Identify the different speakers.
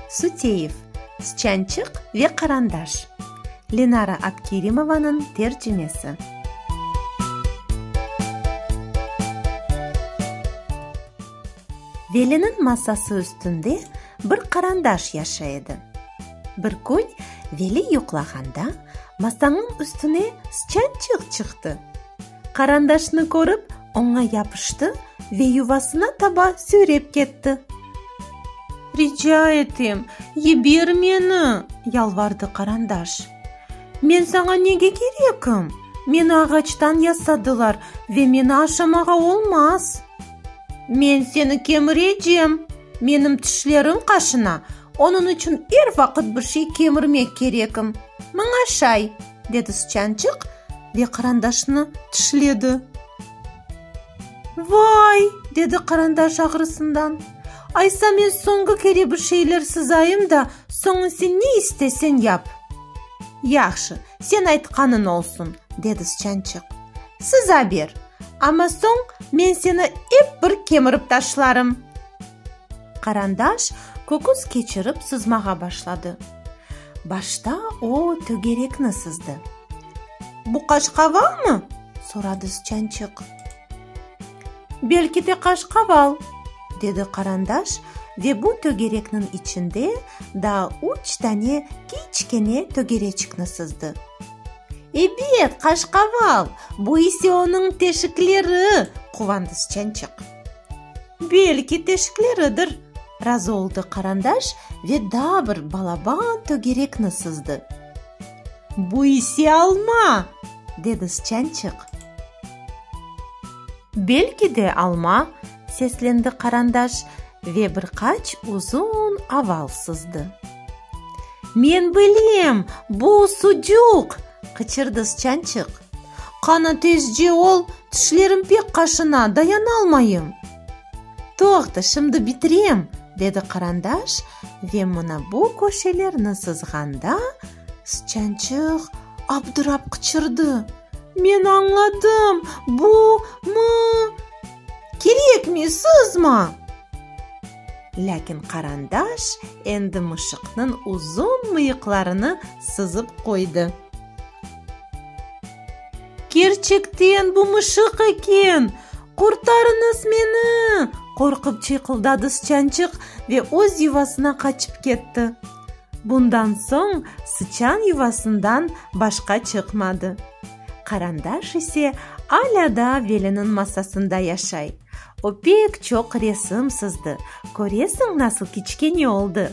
Speaker 1: Suteyev, Sçançıq ve qarandaş. Lenara Abkerimovanıñ tercimesi. Veliniñ masası üstünde bir qarandaş yaşay edi. Bir kün Veli yuqlağanda, Masanıñ üstüne sıçançıq çıqtı. Qarandaşnı körip, oña yapıştı ve yuvasına taba süyrep ketti. Rica etem, yiber meni! yalvardı Qarandaş. Men saña nege kerekim? Meni ağaçtan yasadılar ve meni aşamağa olmaz. Men seni kemirecem! Menim tişlerim qaşına, onıñ içün er vaqıt bir şey kemirmek kerekim. Maña şay! dedi sıçançıq ve qırandaşnı tişledi. Vay! dedi qırandaş ağrısından. Aysa men soñki kere bir şeyler sızayım da, soñun sen ne isteseñ yap. Yahşı, sen aytqanıñ olsun, dedi sıçançıq. Sıza ber, amma soñ men seni ep bir kemirip taşlarım. Qırandaş köküs keçirip sızmağa başladı. Başta o tögerekni sızdı. Bu qaşqavalmı? soradı sıçançıq. Belki de qaşqaval, dedi Qarandaş ve bu tögerekniñ içinde daa üç dane kiçkene tögereçikni sızdı. Ebet, qaşqaval, bu ise onıñ teşikleri, quvandı sıçançıq. Belki, teşikleridir, razı oldı Qarandaş ve daa bir balaban tögerekni sızdı. Bu ise alma! dedi Sıçançıq. Belki de alma, seslendi Qarandaş ve bir qaç uzun aval sızdı. Men bilem, bu sucuq! qıçırdı Sıçançıq. Qana tezce ol, tişlerim pek qaşına, dayanalmayım! Toqta, şimdi bitirem! dedi Qarandaş ve mına bu köşelerni sızğanda, sıçançıq abdırap qıçırdı, Men añladım, bu, mı, kerekmi, sızma! Lâkin Qarandaş endi mışıqnıñ uzun mıyıqlarını sızıp qoydı. Kerçekten bu mışıq eken! Qurtarıñız meni! qorqıp çıyqıldadı sıçançıq ve öz yuvasına qaçıp ketti. Bundan soñ sıçan yuvasından başqa çıqmadı. Qarandaş ise alâ da veliniñ masasında yaşay. O pek çoq resim sızdı, köresiñ nasıl kiçkene oldı.